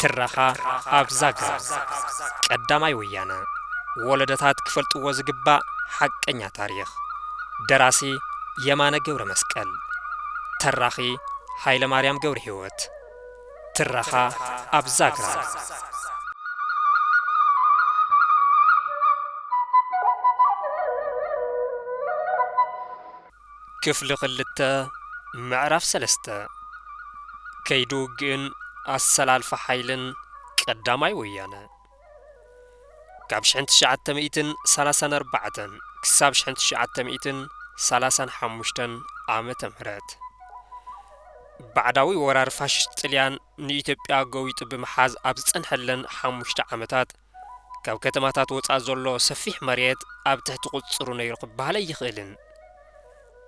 ትረኻ ኣብ ዛግራ ቀዳማይ ወያነ ወለደታት ክፈልጥዎ ዝግባእ ሓቀኛ ታሪኽ ደራሲ የማነ ገብረ መስቀል ተራኺ ሃይለ ማርያም ገብረ ህይወት ትረኻ ኣብ ዛግራ። ክፍሊ ክልተ ምዕራፍ ሰለስተ ከይዲ ውግእን ኣሰላልፋ ሓይልን ቀዳማይ ወያነ። ካብ ሽሕን ትሽዓተ ሚእትን ሰላሳን ኣርባዕተን ክሳብ ሽሕን ትሽዓተ ሚእትን ሰላሳን ሓሙሽተን ዓመተ ምህረት ባዕዳዊ ወራር ፋሽስት ጥልያን ንኢትዮጵያ ገዊጡ ብምሓዝ ኣብ ዝጸንሐለን ሓሙሽተ ዓመታት ካብ ከተማታት ወጻእ ዘሎ ሰፊሕ መሬት ኣብ ትሕቲ ቁጽጽሩ ነይሩ ክበሃለ ኣይኽእልን።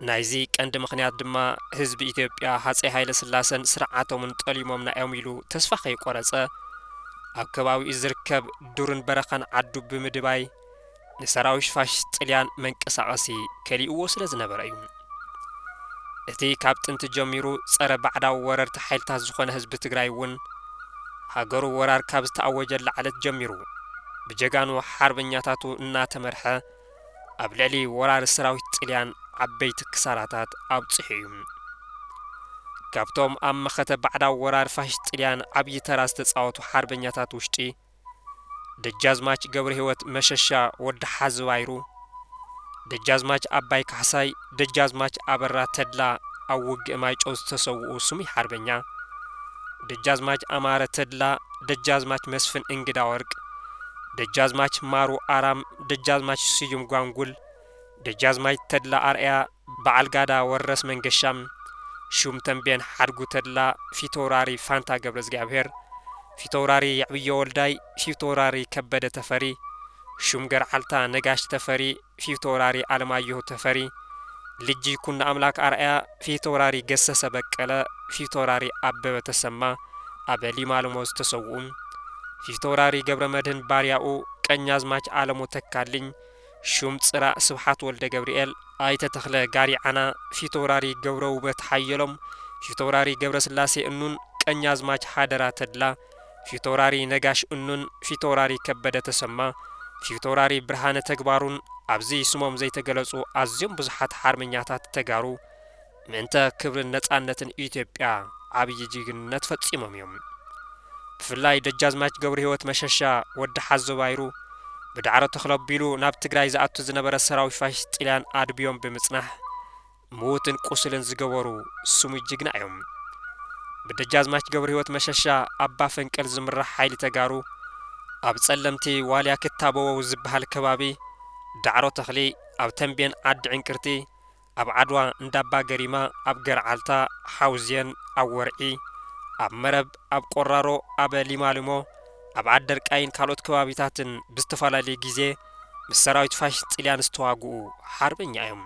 ናይዚ ቀንዲ ምኽንያት ድማ ህዝቢ ኢትዮጵያ ሃጸይ ሃይለስላሰን ስርዓቶምን ጠሊሞምና'ዮም ኢሉ ተስፋ ከይቆረጸ ኣብ ከባቢኡ ዝርከብ ዱርን በረኻን ዓዱ ብምድባይ ንሰራዊሽ ፋሽስት ጥልያን መንቀሳቐሲ ከሊኡዎ ስለ ዝነበረ'ዩ። እቲ ካብ ጥንቲ ጀሚሩ ጸረ ባዕዳዊ ወረርቲ ሓይልታት ዝኾነ ህዝቢ ትግራይ'ውን ሃገሩ ወራር ካብ ዝተኣወጀላ ዕለት ጀሚሩ ብጀጋኑ ሓርበኛታቱ እናተመርሐ ኣብ ልዕሊ ወራሪ ሰራዊት ጥልያን ዓበይቲ ክሳራታት ኣብጺሑ እዩ። ካብቶም ኣብ መኸተ ባዕዳዊ ወራር ፋሽስት ጥልያን ዓብዪ ተራ ዝተጻወቱ ሓርበኛታት ውሽጢ፣ ደጃዝማች ገብረሂወት መሸሻ ወዲ ሓዚ ባይሩ፣ ደጃዝማች ኣባይ ካሕሳይ፣ ደጃዝማች ኣበራ ተድላ ኣብ ውግእ ማይጨው ዝተሰውኡ ስሙይ ሓርበኛ ደጃዝማች ኣማረ ተድላ፣ ደጃዝማች መስፍን እንግዳወርቅ፣ ደጃዝማች ማሩ ኣራም፣ ደጃዝማች ስዩም ጓንጉል፣ ደጃዝማች ተድላ ኣርኣያ፣ በዓል ጋዳ ወረስ መንገሻ፣ ሹም ተምቤን ሓድጉ ተድላ፣ ፊተውራሪ ፋንታ ገብረዝጊኣብሄር፣ ፊተውራሪ የዕብዮ ወልዳይ፣ ፊተውራሪ ከበደ ተፈሪ፣ ሹም ገርዓልታ ነጋሽ ተፈሪ፣ ፊተውራሪ ኣለማየሁ ተፈሪ፣ ልጅ ይኩኖኣምላክ ኣርኣያ፣ ፊተውራሪ ገሰሰ በቀለ፣ ፊተውራሪ ኣበበ ተሰማ፣ ኣብ ሊማልሞ ዝተሰውኡ፣ ፊተውራሪ ገብረመድህን ባርያኡ፣ ቀኛዝማች ኣለሙ ተካልኝ፣ ሹም ፅራእ ስብሓት ወልደገብርኤል፣ ኣይተ ተኽለ ጋሪዓና፣ ፊተውራሪ ገብረውበት ሓየሎም፣ ፊተውራሪ ገብረስላሴ እኑን፣ ቀኛዝማች ሃደራ ተድላ፣ ፊተውራሪ ነጋሽ እኑን ፊተውራሪ ከበደ ተሰማ ፊተውራሪ ብርሃነ ተግባሩን ኣብዚ ስሞም ዘይተገለፁ ኣዝዮም ብዙሓት ሓርበኛታት ተጋሩ ምእንተ ክብርን ነፃነትን ኢትዮጵያ ዓብዪ ጅግንነት ፈፂሞም እዮም። ብፍላይ ደጃዝማች ገብረሂወት መሸሻ፣ ወዲ ሓዞ ባይሩ፣ ብዳዕሮ ተኽለቢሉ ናብ ትግራይ ዝኣቱ ዝነበረ ሰራዊት ፋሽስት ጥልያን ኣድብዮም ብምፅናሕ ምዉትን ቁሱልን ዝገበሩ ስሙይ ጅግና እዮም። ብደጃዝማች ገብርሂወት መሸሻ ኣባ ፈንቅል ዝምራሕ ሓይሊ ተጋሩ ኣብ ጸለምቲ ዋልያ ክታበወው ዝበሃል ከባቢ ዳዕሮ ተኽሊ ኣብ ተምቤን ዓዲ ዕንቅርቲ ኣብ ዓድዋ እንዳባ ገሪማ ኣብ ገርዓልታ ሓውዜን ኣብ ወርዒ ኣብ መረብ ኣብ ቆራሮ ኣብ ሊማሊሞ ኣብ ዓደርቃይን ካልኦት ከባቢታትን ብዝተፈላለየ ግዜ ምስ ሰራዊት ፋሽስት ጥልያን ዝተዋግኡ ሓርበኛ እዮም።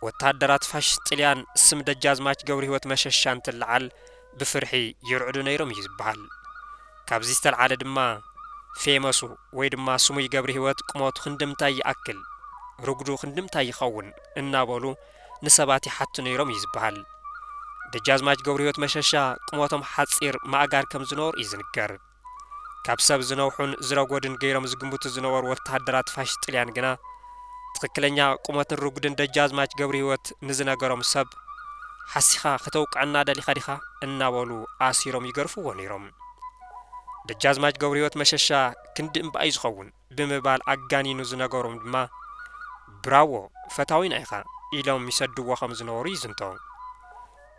ወተሃደራት ፋሽስት ጥልያን ስም ደጃዝማች ገብርሂወት መሸሻ እንትለዓል ብፍርሒ ይርዕዱ ነይሮም እዩ ዝበሃል። ካብዚ ዝተልዓለ ድማ ፌመሱ ወይ ድማ ስሙይ ገብርሂወት ቁመቱ ክንድምታይ ይኣክል፣ ርጉዱ ክንድምታይ ይኸውን እናበሉ ንሰባት ይሓቱ ነይሮም እዩ ዝበሃል። ደጃዝማች ገብርህይወት መሸሻ ቁመቶም ሓጺር ማእጋር ከም ዝነበሩ እዩ ዝንገር። ካብ ሰብ ዝነውሑን ዝረጎድን ገይሮም ዝግምቱ ዝነበሩ ወተሃደራት ፋሽስት ጥልያን ግና ትኽክለኛ ቁመትን ርጉድን ደጃዝማች ገብርህይወት ንዝነገሮም ሰብ ሓሲኻ ከተውቅዐና ደሊኻ ዲኻ እናበሉ ኣሲሮም ይገርፍዎ ነይሮም። ደጃዝማች ገብርህይወት መሸሻ ክንዲ እምባ'ዩ ዝኸውን። ብምባል ኣጋኒኑ ዝነገሮም ድማ ብራዎ ፈታዊና ኢኻ ኢሎም ይሰድዎ ከም ዝነበሩ ይዝንቶ።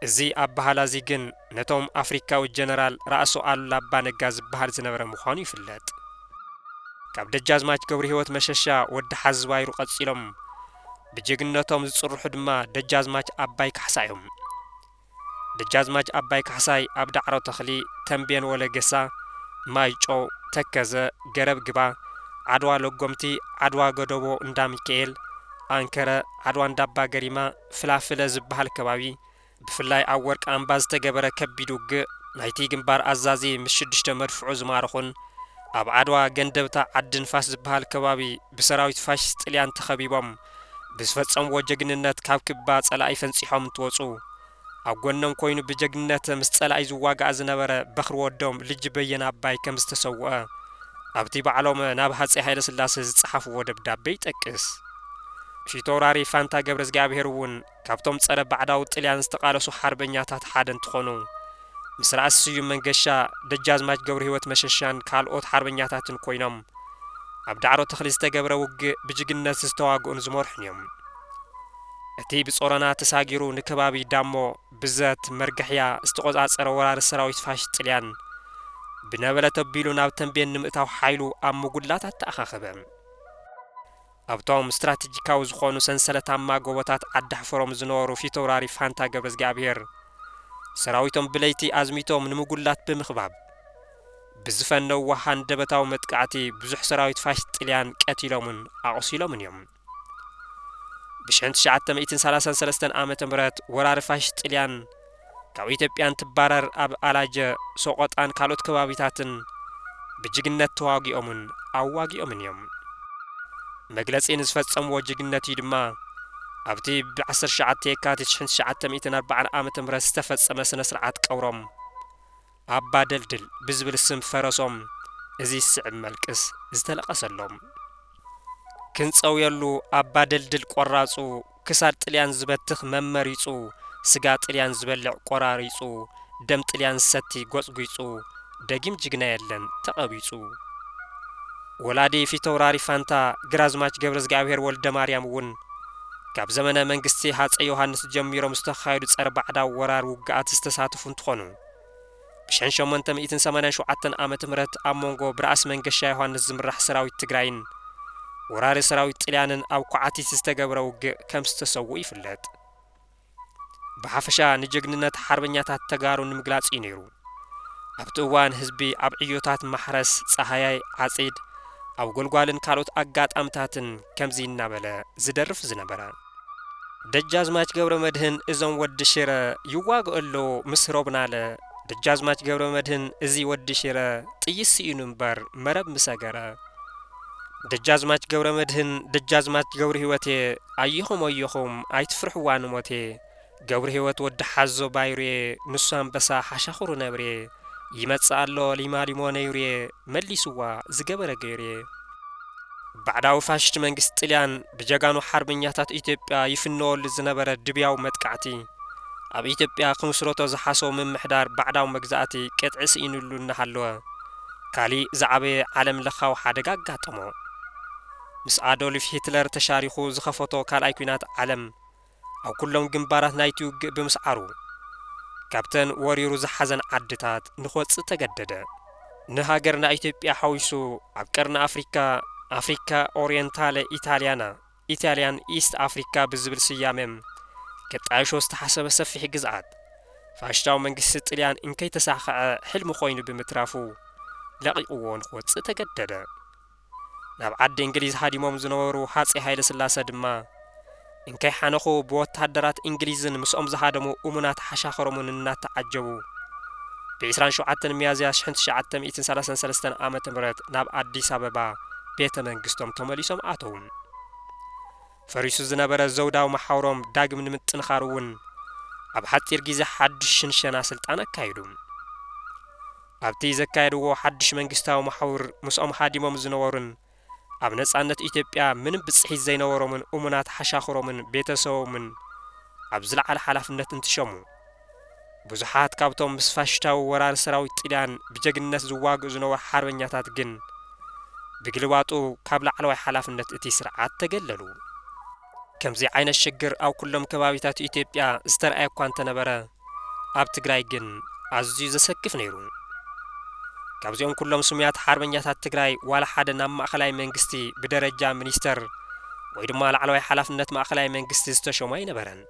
እዚ ኣበሃላዚ ግን ነቶም ኣፍሪካዊ ጀነራል ራእሲ ኣሉላ ኣባ ነጋ ዝበሃል ዝነበረ ምዃኑ ይፍለጥ። ካብ ደጃዝማች ገብርሂወት መሸሻ ወዲ ሓዚ ባይሩ ቀጺሎም ብጀግንነቶም ዝጽርሑ ድማ ደጃዝማች ኣባይ ካሕሳ እዮም። ደጃዝማች ኣባይ ካሕሳይ ኣብ ዳዕሮ ተኽሊ፣ ተምቤን ወለገሳ፣ ማይጮው፣ ተከዘ፣ ገረብ ግባ፣ ዓድዋ ለጎምቲ፣ ዓድዋ ገደቦ እንዳ ሚካኤል፣ ኣንከረ፣ ዓድዋ እንዳባ ገሪማ፣ ፍላፍለ ዝበሃል ከባቢ፣ ብፍላይ ኣብ ወርቂ ኣምባ ዝተገበረ ከቢድ ውግእ ናይቲ ግንባር ኣዛዚ ምስ ሽዱሽተ መድፍዑ ዝማረኹን፣ ኣብ ዓድዋ ገንደብታ ዓዲ ንፋስ ዝበሃል ከባቢ ብሰራዊት ፋሽስት ጥልያን ተኸቢቦም ብዝፈጸምዎ ጀግንነት ካብ ክባ ጸላኢ ፈንጺሖም እንትወጹ ኣብ ጎኖም ኮይኑ ብጀግንነት ምስ ጸላኢ ዝዋጋእ ዝነበረ በኽሪ ወዶም ልጅ በየነ ኣባይ ከም ዝተሰውኣ ኣብቲ ባዕሎም ናብ ሃጸይ ሃይለስላሰ ዝጸሓፍዎ ደብዳቤ ይጠቅስ። ፊተውራሪ ፋንታ ገብረዝግኣብሄር'ውን ካብቶም ጸረ ባዕዳዊ ጥልያን ዝተቓለሱ ሓርበኛታት ሓደ እንትኾኑ፣ ምስ ራእሲ ስዩም መንገሻ፣ ደጃዝማች ገብርሂወት መሸሻን ካልኦት ሓርበኛታትን ኮይኖም ኣብ ዳዕሮ ተኽሊ ዝተገብረ ውግእ ብጅግንነት ዝተዋግኡን ዝመርሑን እዮም። እቲ ብጾሮና ተሳጊሩ ንከባቢ ዳሞ፣ ብዘት፣ መርገሕያ ዝተቖጻጸረ ወራሪ ሰራዊት ፋሽስት ጥልያን፣ ብነበለት ኣቢሉ ናብ ተምቤን ንምእታው ሓይሉ ኣብ ምጉላት ኣተኣኻኸበ። ኣብቶም ስትራቴጂካዊ ዝኾኑ ሰንሰለታማ ጎቦታት ዓዲሓፈሮም ዝነበሩ ፊተውራሪ ፋንታ ገብረዝጊኣብሄር ሰራዊቶም ብለይቲ ኣዝሚቶም ንምጉላት ብምኽባብ ብዝፈነውዎ ሃንደበታዊ መጥቃዕቲ ብዙሕ ሰራዊት ፋሽስት ጥልያን ቀቲሎምን ኣቑሲሎምን እዮም። ብሽሕን ትሽዓተ ሚእትን ሰላሳን ሰለስተን ዓመተ ምህረት ወራሪ ፋሽስት ጥልያን ካብ ኢትዮጵያ እንትባረር ኣብ ኣላጀ፣ ሶቖጣን ካልኦት ከባቢታትን ብጅግነት ተዋጊኦምን ኣዋጊኦምን እዮም። መግለጺ ንዝፈጸምዎ ጅግነት'ዩ ድማ ኣብ'ቲ ብ ዓሰርተ ትሽዓተ የካቲት ሽሕን ትሽዓተ ሚእትን ኣርባዓን ዓመተ ምህረት ዝተፈጸመ ስነ-ስርዓት ቀብሮም ኣባ ደልድል ብዝብል ስም ፈረሶም እዚ ዝስዕብ መልቅስ ዝተለቐሰሎም። ክንጸውየሉ ኣባ ደልድል ቆራጹ ክሳድ ጥልያን ዝበትኽ መመሪጹ ስጋ ጥልያን ዝበልዕ ቆራሪጹ ደም ጥልያን ዝሰቲ ጎጽጒጹ ደጊም ጅግና የለን ተቐቢጹ። ወላዲ ፊተውራሪ ፋንታ ግራዝማች ገብረዝግኣብሄር ወልደማርያም እውን ካብ ዘመነ መንግስቲ ሃጸይ ዮሃንስ ጀሚሮም ዝተኻየዱ ጸረ ባዕዳዊ ወራር ውግኣት ዝተሳተፉ እንትኾኑ፣ ብሽሕን ሸሞንተ ሚእትን ሰማንያን ሸውዓተን ዓመተ ምህረት ኣብ ሞንጎ ብራእሲ መንገሻ ዮሃንስ ዝምራሕ ሰራዊት ትግራይን ወራሪ ሰራዊት ጥልያንን ኣብ ኳዓቲት ዝተገብረ ውግእ ከም ዝተሰውኡ ይፍለጥ። ብሓፈሻ ንጀግንነት ሓርበኛታት ተጋሩ ንምግላፅ እዩ ነይሩ። ኣብቲ እዋን ህዝቢ ኣብ ዕዮታት ማሕረስ፣ ፃሃያይ፣ ዓፂድ፣ ኣብ ጎልጓልን ካልኦት ኣጋጣምታትን ከምዚ እናበለ ዝደርፍ ዝነበረ። ደጃዝማች ገብረመድህን እዞም ወዲ ሽረ ይዋግኦ ኣሎ ምስ ሮብናለ ደጃዝማች ገብረመድህን እዚ ወዲ ሽረ ጥይት ስኢኑ እምበር መረብ ምሰገረ ደጃዝማች ገብረመድህን ደጃዝማች ገብርሂወቴ ኣየኹም ኣየኹም ኣይትፍርሕዋ ንሞቴ ገብርሂወት ወዲ ሓዞ ባይሩየ ንሱ ኣንበሳ ሓሻኽሩ ነብርየ ይመጽእ ኣሎ ሊማሊሞ ነይሩየ መሊስዋ ዝገበረ ገይሩየ። ባዕዳዊ ፋሽስት መንግስቲ ጥልያን ብጀጋኑ ሓርበኛታት ኢትዮጵያ ይፍነወሉ ዝነበረ ድብያዊ መጥቃዕቲ፣ ኣብ ኢትዮጵያ ክምስረቶ ዝሓሰቦ ምምሕዳር ባዕዳዊ መግዛእቲ ቅጥዒ ስኢንሉ እናሃለወ፣ ካሊእ ዝዓበየ ዓለም ለኻዊ ሓደጋ ኣጋጠሞ። ምስ ኣዶልፍ ሂትለር ተሻሪኹ ዝኸፈቶ ካልኣይ ኲናት ዓለም፣ ኣብ ኩሎም ግንባራት ናይቲ ውግእ ብምስዓሩ፣ ካብተን ወሪሩ ዝሓዘን ዓድታት ንክወጽእ ተገደደ። ንሃገርና ኢትዮጵያ ሓዊሱ ኣብ ቀርኒ ኣፍሪካ፣ ኣፍሪካ ኦርየንታለ ኢታልያና፣ Italian East Africa፣ ብዝብል ስያመ ከጣይሾ ዝተሓሰበ ሰፊሕ ግዝኣት፣ ፋሽታዊ መንግስቲ ጥልያን እንከይተሳኸዐ ሕልሚ ኮይኑ ብምትራፉ፣ ለቒቕዎ ንክወጽእ ተገደደ። ናብ ዓዲ እንግሊዝ ሃዲሞም ዝነበሩ ሃጼ ሃይለስላሰ ድማ፣ እንከይ ሓነኹ ብወተሃደራት እንግሊዝን ምስኦም ዝሃደሙ እሙናት ሓሻኽሮምን እናተዓጀቡ፣ ብ ዕስራን ሸውዓተን ሚያዝያ ሽሕን ትሽዓተ ሚእትን ሰላሳን ሰለስተን ዓመተ ምህረት ናብ ኣዲስ ኣበባ ቤተ መንግስቶም ተመሊሶም ኣተዉ። ፈሪሱ ዝነበረ ዘውዳዊ መሓውሮም ዳግም ንምጥንኻሩ እውን ኣብ ሓጺር ግዜ ሓድሽ ሽንሸና ስልጣን ኣካየዱ። ኣብቲ ዘካየድዎ ሓድሽ መንግስታዊ መሓውር ምስኦም ሃዲሞም ዝነበሩን ኣብ ነጻነት ኢትዮጵያ ምንም ብጽሒት ዘይነበሮምን እሙናት ሓሻኽሮምን ቤተሰቦምን ኣብ ዝለዓለ ሓላፍነት እንትሸሙ፣ ብዙሓት ካብቶም ምስ ፋሽሽታዊ ወራሪ ሰራዊት ጥልያን ብጀግንነት ዝዋግኡ ዝነበሩ ሓርበኛታት ግን ብግልባጡ ካብ ላዕለዋይ ሓላፍነት እቲ ስርዓት ተገለሉ። ከምዚ ዓይነት ሽግር ኣብ ኩሎም ከባቢታት ኢትዮጵያ ዝተርኣየ እኳ እንተነበረ ኣብ ትግራይ ግን ኣዝዩ ዘሰክፍ ነይሩ። ካብዚኦም ኩሎም ስሙያት ሓርበኛታት ትግራይ ዋላ ሓደ ናብ ማእኸላይ መንግስቲ ብደረጃ ሚኒስተር ወይ ድማ ላዕለዋይ ሓላፍነት ማእኸላይ መንግስቲ ዝተሾሙ ኣይነበረን።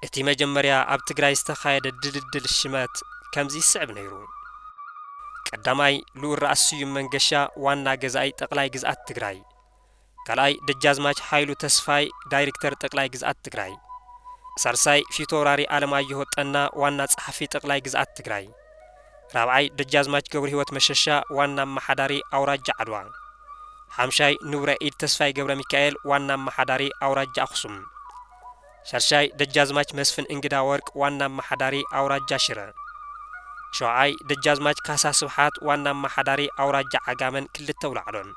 እቲ መጀመርያ ኣብ ትግራይ ዝተኻየደ ድልድል ሽመት ከምዚ ይስዕብ ነይሩ። ቀዳማይ ልኡል ራእሲ ስዩም መንገሻ ዋና ገዛኢ ጠቅላይ ግዝኣት ትግራይ፣ ካልኣይ ደጃዝማች ሃይሉ ተስፋይ ዳይሪክተር ጠቅላይ ግዝኣት ትግራይ፣ ሳልሳይ ፊተውራሪ ኣለማየሁ ጠና ዋና ፀሓፊ ጠቅላይ ግዝኣት ትግራይ፣ ራብዓይ ደጃዝማች ገብርሂወት መሸሻ ዋና ኣማሓዳሪ ኣውራጃ ዓድዋ። ሓምሻይ ንቡረ ኢድ ተስፋይ ገብረሚካኤል ዋና ኣማሓዳሪ ኣውራጃ ኣኽሱም። ሻድሻይ ደጃዝማች መስፍን እንግዳወርቅ ዋና ኣማሓዳሪ ኣውራጃ ሽረ። ሸውዓይ ደጃዝማች ካሳ ስብሓት ዋና ኣማሓዳሪ ኣውራጃ ዓጋመን ክልተ ኣውላዕሎን።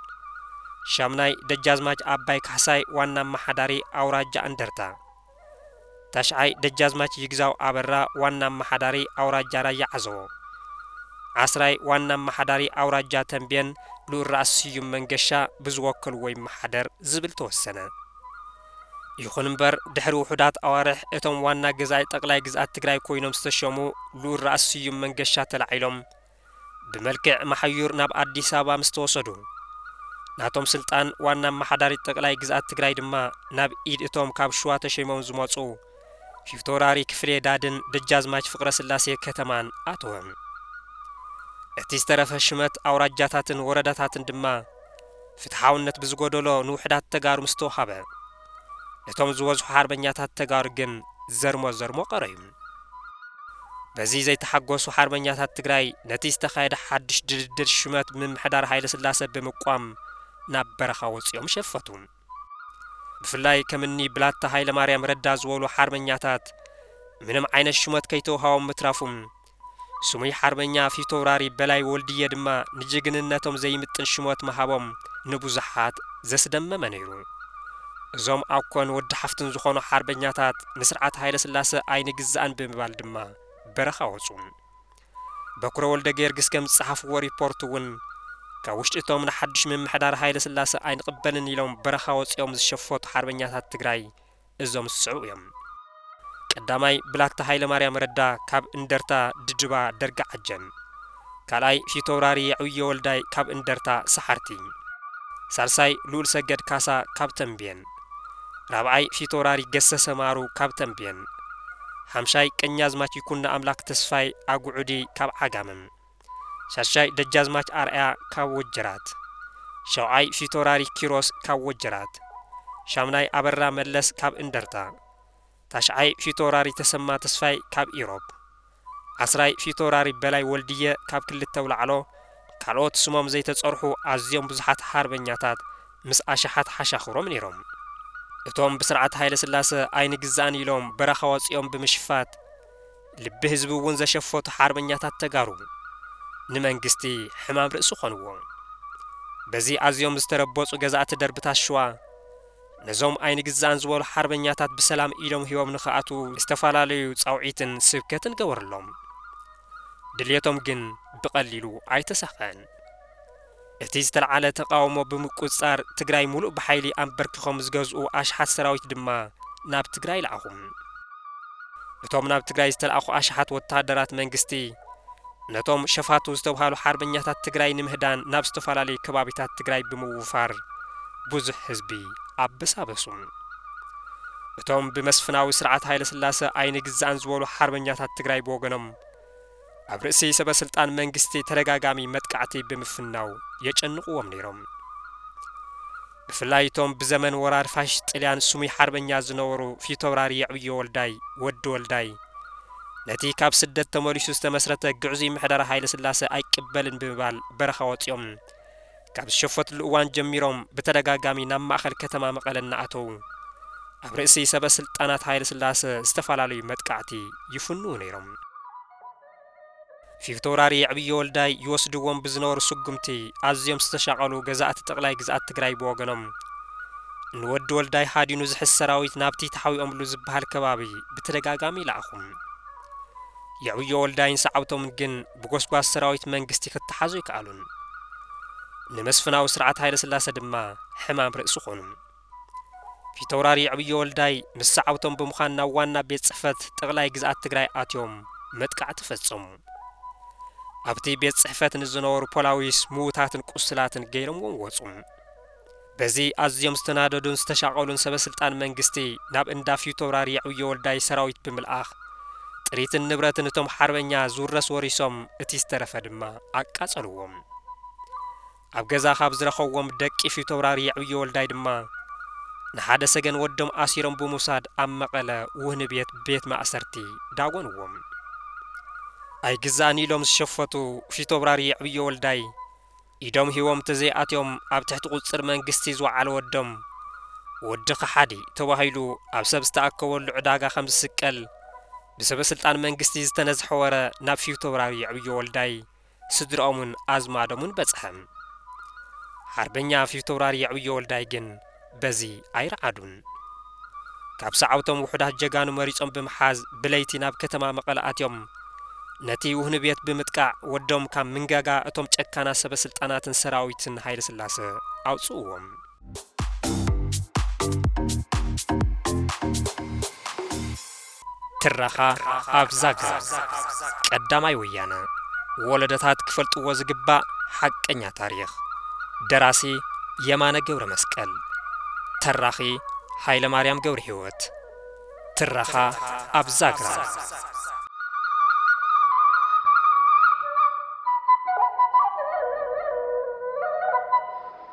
ሻምናይ ደጃዝማች ኣባይ ካሕሳይ ዋና ኣማሓዳሪ ኣውራጃ እንደርታ። ታሽዓይ ደጃዝማች ይግዛው ኣበራ ዋና ኣማሓዳሪ ኣውራጃ ራያ ዓዘቦ። ዓስራይ ዋና ኣማሓዳሪ ኣውራጃ ተምቤን ልኡል ራእሲ ስዩም መንገሻ ብዝወከልዎ ይመሓደር ዝብል ተወሰነ። ይኹን እምበር ድሕሪ ውሑዳት ኣዋርሕ እቶም ዋና ገዛኢ ጠቕላይ ግዝኣት ትግራይ ኮይኖም ዝተሸሙ ልኡል ራእሲ ስዩም መንገሻ ተላዒሎም፣ ብመልክዕ መሓዩር ናብ ኣዲስ ኣበባ ምስ ተወሰዱ፣ ናቶም ስልጣን ዋና ኣመሓዳሪት ጠቅላይ ግዝኣት ትግራይ ድማ ናብ ኢድ እቶም ካብ ሽዋ ተሸይሞም ዝመጹ ፊውቶራሪ ክፍሌ ዳድን ደጃዝማች ፍቅረስላሴ ከተማን ኣተወ። እቲ ዝተረፈ ሽመት ኣውራጃታትን ወረዳታትን ድማ ፍትሓውነት ብዝጎደሎ ንውሕዳት ተጋሩ ምስ ተወሃበ፣ ነቶም ዝበዝሑ ሓርበኛታት ተጋሩ ግን ዘርሞ ዘርሞ ቀረዩ። በዚ ዘይተሓጎሱ ሓርበኛታት ትግራይ ነቲ ዝተኻየደ ሓድሽ ድልድል ሹመት ምምሕዳር ሃይለስላሰ ብምቋም ናብ በረኻ ወጺኦም ሸፈቱ። ብፍላይ ከም እኒ ብላታ ሃይለማርያም ረዳ ዝበሉ ሓርበኛታት ምንም ዓይነት ሹመት ከይተውሃቦም ምትራፉም ስሙይ ሓርበኛ ፊተውራሪ በላይ ወልድየ ድማ ንጅግንነቶም ዘይምጥን ሽሞት ምሃቦም ንብዙሓት ዘስደመመ ነይሩ። እዞም ኣኮን ወዲ ሓፍትን ዝኾኑ ሓርበኛታት ንስርዓት ሃይለስላሰ ኣይንግዛእን ብምባል ድማ በረኻ ወጹ። በኩረ ወልደገየርግስ ከም ዝጸሓፍዎ ሪፖርት'ውን ካብ ውሽጢ እቶም ንሓዱሽ ምምሕዳር ሃይለስላሰ ኣይንቕበልን ኢሎም በረኻ ወጺኦም ዝሸፈቱ ሓርበኛታት ትግራይ እዞም ዝስዕቡ እዮም። ቀዳማይ ብላታ ሃይለማርያም ረዳ ካብ እንደርታ ድጅባ ደርጊ ዓጀን። ካልኣይ ፊተውራሪ የዕብዮ ወልዳይ ካብ እንደርታ ሰሓርቲ። ሳልሳይ ልኡልሰገድ ካሳ ካብ ተምቤን። ራብዓይ ፊተውራሪ ገሰሰ ማሩ ካብ ተምቤን። ሓምሻይ ቀኛዝማች ይኩኖኣምላክ ተስፋይ ኣጉዑዲ ካብ ዓጋመ። ሻሻይ ደጃዝማች ኣርኣያ ካብ ወጀራት። ሸውዓይ ፊቶራሪ ኪሮስ ካብ ወጀራት። ሻምናይ ኣበራ መለስ ካብ እንደርታ። ታሽዓይ ፊቶውራሪ ተሰማ ተስፋይ ካብ ኢሮብ። ዓስራይ ፊቶውራሪ በላይ ወልድየ ካብ ክልተ ኣውላዕሎ ካልኦት ስሞም ዘይተጸርሑ ኣዝዮም ብዙሓት ሓርበኛታት ምስ ኣሽሓት ሓሻኽሮም ነይሮም። እቶም ብስርዓት ሃይለስላሰ ኣይንግዛእን ኢሎም በረኻ ወጺኦም ብምሽፋት፣ ልቢ ህዝቢ እውን ዘሸፈቱ ሓርበኛታት ተጋሩ ንመንግስቲ ሕማም ርእሲ ኮንዎ። በዚ ኣዝዮም ዝተረበጹ ገዛእቲ ደርብታት ሽዋ ነዞም ኣይንግዛእን ዝበሉ ሓርበኛታት ብሰላም ኢዶም ሂቦም ንክኣትዉ ዝተፈላለዩ ጻውዒትን ስብከትን ገበሩሎም። ድልየቶም ግን ብቀሊሉ ኣይተሳክዐን። እቲ ዝተልዓለ ተቓውሞ ብምቁጽጻር ትግራይ ሙሉእ ብሓይሊ ኣምበርኪኾም ዝገዝኡ ኣሽሓት ሰራዊት ድማ ናብ ትግራይ ለኣኹ። እቶም ናብ ትግራይ ዝተልኣኹ ኣሽሓት ወተሃደራት መንግስቲ ነቶም ሸፋቱ ዝተብሃሉ ሓርበኛታት ትግራይ ንምህዳን ናብ ዝተፈላለዩ ከባቢታት ትግራይ ብምውፋር ብዙሕ ህዝቢ ኣበሳበሱ። እቶም ብመስፍናዊ ስርዓት ሃይለስላሰ ኣይንግዛእን ዝበሉ ሓርበኛታት ትግራይ ብወገኖም፣ ኣብ ርእሲ ሰበስልጣን መንግስቲ ተደጋጋሚ መጥቃዕቲ ብምፍናው የጨንቑዎም ነይሮም። ብፍላይ እቶም ብዘመን ወራር ፋሽስት ጥልያን ስሙይ ሓርበኛ ዝነበሩ ፊተውራሪ የዕብዮ ወልዳይ፣ ወዲ ወልዳይ፣ ነቲ ካብ ስደት ተመሊሱ ዝተመስረተ ግዕዙይ ምሕደራ ሃይለስላሰ ኣይቅበልን ብምባል በረኻ ወጺኦም ካብ ዝሸፈትሉ እዋን ጀሚሮም ብተደጋጋሚ ናብ ማእኸል ከተማ መቐለ እናኣተዉ ኣብ ርእሲ ሰበ ስልጣናት ሃይለስላሰ ዝተፈላለዩ መጥቃዕቲ ይፍንዉ ነይሮም። ፊተውራሪ የዕብዮ ወልዳይ ይወስድዎም ብዝነበሩ ስጉምቲ ኣዝዮም ዝተሻቐሉ ገዛእቲ ጠቕላይ ግዝኣት ትግራይ ብወገኖም ንወዲ ወልዳይ ሃዲኑ ዝሕዝ ሰራዊት ናብቲ ተሓቢኦምሉ ዝበሃል ከባቢ ብተደጋጋሚ ይልኣኹ። የዕብዮ ወልዳይን ሰዓብቶምን ግን ብጎስጓስ ሰራዊት መንግስቲ ክተሓዙ ኣይከኣሉን። ንመስፍናዊ ስርዓት ሃይለስላሰ ድማ ሕማም ርእሲ ኮኑ። ፊተውራሪ የዕብዮ ወልዳይ ምስ ሰዓብቶም ብምዃን ናብ ዋና ቤት ጽሕፈት ጠቕላይ ግዝኣት ትግራይ ኣትዮም መጥቃዕቲ ፈጸሙ። ኣብቲ ቤት ጽሕፈት ንዝነበሩ ፖላዊስ ምዉታትን ቁስላትን ገይሮምዎም ወጹ። በዚ ኣዝዮም ዝተናደዱን ዝተሻቐሉን ሰበ ስልጣን መንግስቲ ናብ እንዳ ፊውቶውራሪ የዕብዮ ወልዳይ ሰራዊት ብምልኣኽ ጥሪትን ንብረትን እቶም ሓርበኛ ዝውረስ ወሪሶም እቲ ዝተረፈ ድማ ኣቃጸልዎም። ኣብ ገዛ ካብ ዝረኸዎም ደቂ ፊውቶውራሪ የዕብዮ ወልዳይ ድማ ንሓደ ሰገን ወዶም ኣሲሮም ብምውሳድ ኣብ መቐለ ውህኒ ቤት ቤት ማእሰርቲ ዳጎንዎም። ኣይግዛእን ኢሎም ዝሸፈቱ ፊውቶብራሪ የዕብዮ ወልዳይ፣ ኢዶም ሂቦም ተዘይኣትዮም ኣብ ትሕቲ ቁፅፅር መንግስቲ ዝወዓለ ወዶም ወዲ ከሓዲ ተባሂሉ ኣብ ሰብ ዝተኣከበሉ ዕዳጋ ከምዝስቀል ብሰበስልጣን መንግስቲ ዝተነዝሐ ወረ ናብ ፊውቶብራሪ የዕብዮ ወልዳይ ስድርኦምን ኣዝማዶምን በፅሐ። ሓርበኛ ፊውቶብራሪ የዕብዮ ወልዳይ ግን በዚ ኣይረዓዱን። ካብ ሰዓብቶም ውሑዳት ጀጋኑ መሪጾም ብምሓዝ ብለይቲ ናብ ከተማ መቐለ ኣትዮም ነቲ ውህኒ ቤት ብምጥቃዕ ወዶም ካብ ምንጋጋ እቶም ጨካናት ሰበ ስልጣናትን ሰራዊትን ሃይለስላሰ ኣውጽእዎም። ትረኻ ኣብ ዛግራ ቀዳማይ ወያነ ወለዶታት ክፈልጥዎ ዝግባእ ሓቀኛ ታሪኽ ደራሲ የማነ ገብረመስቀል ተራኺ ሃይለማርያም ገብርሂወት ትረኻ ኣብ ዛግራ